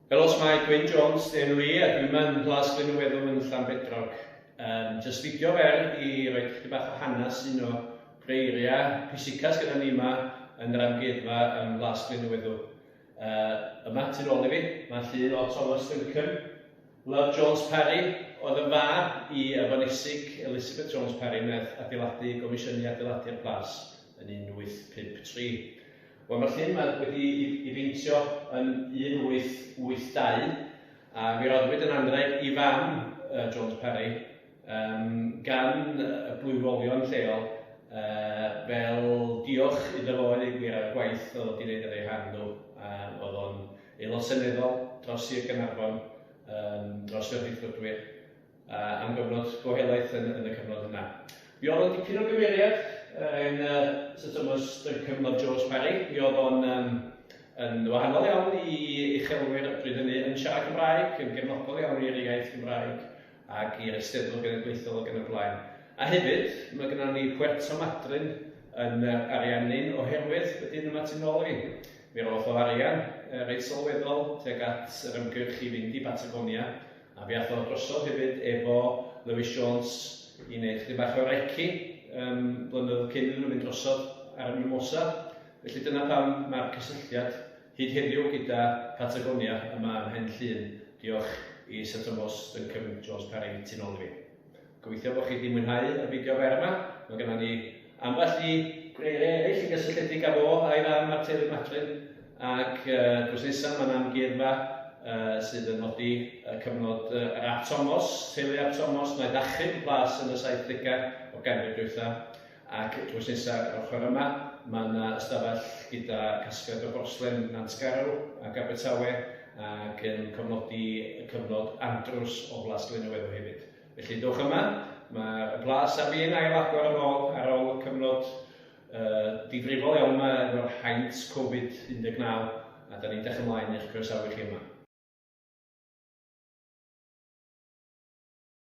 Helo, mae Gwyn Jones, dyn nhw i, a dwi'n mynd Plas Glyn y Weddw yn Llanbedrog. Um, just fideo fer i roi chdi bach o hanes un o greiriau pwysica sydd gyda ni yma yn yr amgueddfa yn Plas Glyn y Weddw. Uh, yma, tu ôl i fi, mae llun o Thomas Duncan, Love Jones-Parry oedd yn fab i Efonysic Elizabeth Jones-Parry wnaeth adeiladu gomisiynu adeiladu ar Plas yn 1853. Wel mae'r llun yma wedi i i beintio yn 1882 a mi roddwyd yn anrheg i fam yy Jones-Parry, um, gan y blwyrolion lleol, uh, fel diolch iddo fo yn ei gwir ar y gwaith oedd wedi gwneud ar ei rhan nhw. Uh, oedd o'n aelod seneddol dros Sir Gaernarfon, um, dros y rhithwydwyr, uh, am gyfnod go helaeth yn, yn y cyfnod yna. Mi oedd o'n dipyn o gymeriad yn uh, Sir Thomas y cyfnod George Parry. Mi oedd o'n um, yn wahanol iawn i uchelwyr pryd hynny, yn siarad Cymraeg, yn gefnogol iawn i'r iaith Gymraeg, ac i'r Eisteddfod Genedlaethol ac yn y blaen. A hefyd, mae gynnon ni Puerto Madryn yn yr arian hyn oherwydd y dyn yma tu nôl i mi. Mi roth o arian uh, reit sylweddol tuag at yr ymgyrch i fynd i Patagonia a fi ath o drosodd hefyd efo Lewis Jones i wneud chdi bach o reci um, blynyddoedd cyn iddyn nhw fynd drosodd ar y Mimosa. Felly dyna pam mae'r cysylltiad Hyd heddiw gyda Patagonia yma ym Mhen Llŷn, diolch i Sir Tomos, Duncombe, Jones Parry, tu nôl i mi. Gobeithio bod chi wedi mwynhau y fideo fer yma, mae genna ni ambell i greiriau eraill yn gysylltiedig â fo a'i fam ar Teulu Matlin ac drws nesaf mae'n amgueddfa sydd yn nodi y cyfnod yr Ap Tomos, teulu Ap Tomos, naeth achub y plas yn y saithdegau o ganrif dwytha. Ac drws nesa yr ochr yma, mae yna ystafell gyda casgliad o borslen Nantgarw ac Abertawe ac yn cofnodi y cyfnod andrws o Blas Glynneweddw hefyd. Felly dowch yma, mae y plas ar fin ail agor yn ôl ar ôl y cyfnod uh, difrifol iawn yma efo'r haint Covid 19 a da ni'n dech ymlaen i'ch croesawu chi yma.